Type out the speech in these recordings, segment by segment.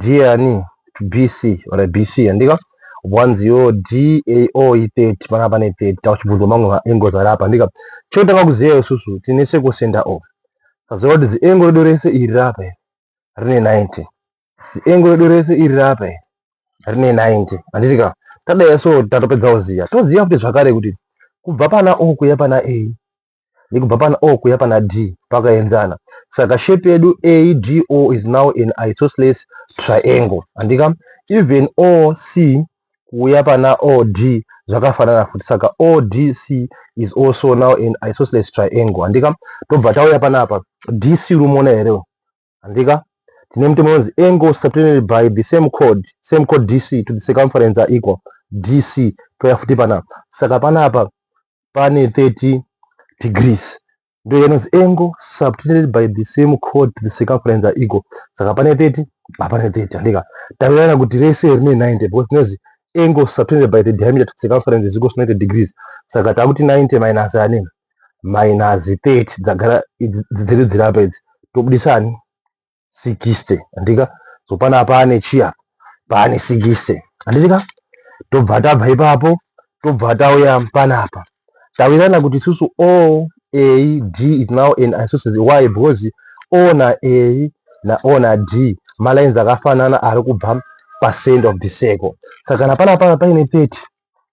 Diani to BC or BC handika wanzi yo DAO i 30 panga pane 30 tauchibvunzwa mamwe ma angles ari apa handika chotanga kuziva isusu tine seku center of taziva kuti zi angle redu rese iri rapa iri rine 90 zi angle redu rese iri rapa iri rine 90 handitika tadai so tatopedza kuziva toziva kuti zvakare kuti kubva pana O kuya pana A nekubva pana o kuya pana d pakaenzana saka shape yedu ado is now an isosceles triangle andika even oc kuuya pana od zvakafanana futi saka odc is also now an isosceles triangle andika tobva tauya panapa dc rumoona here handika tine mutemo unonzi angle subtended by the same chord same chord dc to the circumference are equal dc toya futi panapa saka panapa pane 30 degrees ndoya inonzi angle subtended by the same chord to the circumference are equal saka pane 30 hapana 30 handika tawiana kuti rese rine 90 because tinonzi angle subtended by the diameter to the circumference is equal to 90 degrees saka takuti 90 minus anenge minus 30 dzagara dziri dziri apa idzi tobudisa ani 60 handika so pana paane chiya paane 60 handitika tobva tabva ipapo tobva tauya panapa tawirirana kuti isusu o a d is now an isosceles why because o na a na o na d malines akafanana ari kubva pacent of the circle saka kana panapa paine 30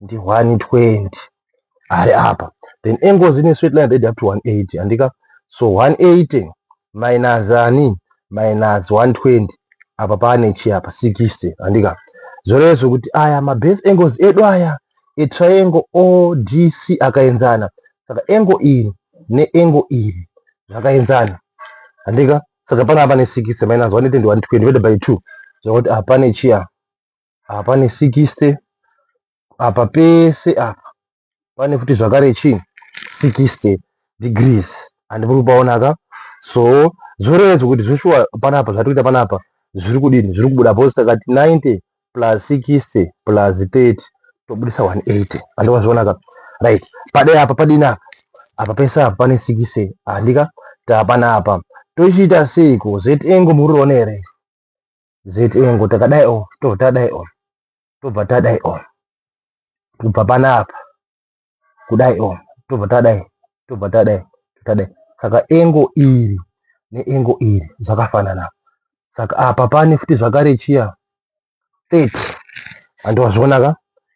ndi 120 ari apa then angles ine straight line that up to 180 andika so 180 minus ani minus 120 apa pane chi apa 60 andika zvoreva zvekuti aya mabase angles edu aya etriangle odc akaenzana saka angle iri neangle iri zvakaenzana handika saka panapa pane 60 minus 120 divided by 2 zvakuti apa pane chiya apa pane 60 apa pese apa pane futi zvakare chii 60 degrees and muri kupaona ka so zvorevedzwa kuti zveshuwa panapa zvatiri kuita panapa zviri kudini zviri kubuda bhozi takati 90 plus 60 plus 30 tobudisa 180 andova zviona ka right padai apa padini apa apa pese apa pane 60 handika tapanapa tochiita seiko zvengo muri kuona here zitengo takadai o oh, to tadai o oh, tobva tadai o oh. tobva panapa kudai o tobva tadai tobva tadai tadai saka engo iri neengo iri zvakafanana saka apa pane futi zvakare chiya 30 andiwazvionaka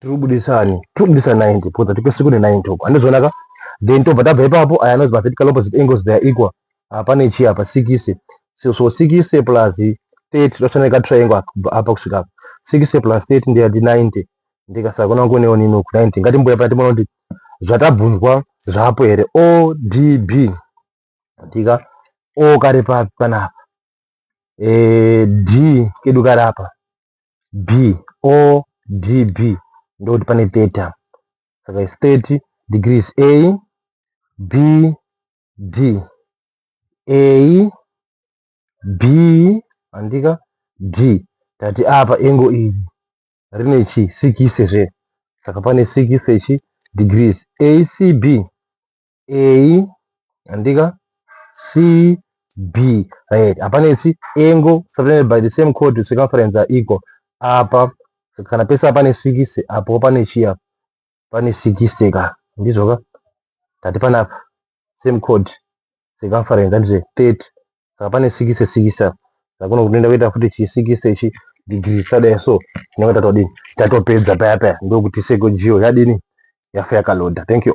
tiri kubudisa ani tiri kubudisa 90 because hatipesi kune 90 uko handizvonaka then tobva tabva ipapo aya anozi mavertical opposite angles they are equal hapane chi apa sikise so, so sikise plus 30 tosana ka triangle apa kusvika apa sikise plus 30 ndiya ndi 90 ndikasakona kuonewo nini uku 90 ngatimbuya paya timona kuti zvatabvunzwa zvapo here odb tika o kari papi panapa e, d kedu kari apa B O D B ndokuti pane theta saka is 30 degrees A B D A B andika D tati apa engo iri rine chi 60 zve saka pane 60 chi degrees ACB A andika C B right hapana isi angle separated by the same chord circumference are equal apa kana pese pane 6 apo pane chiya pane 6 ka ndizvo ka tati pana same chord circumference that is 30 saka pane 6 6 apa saka kuno kunoenda kuita futi chi 6 ichi degree chadai so tinenge tatodini tatopedza paya paya ndokuti seko geo yadini yafa yakaloda thank you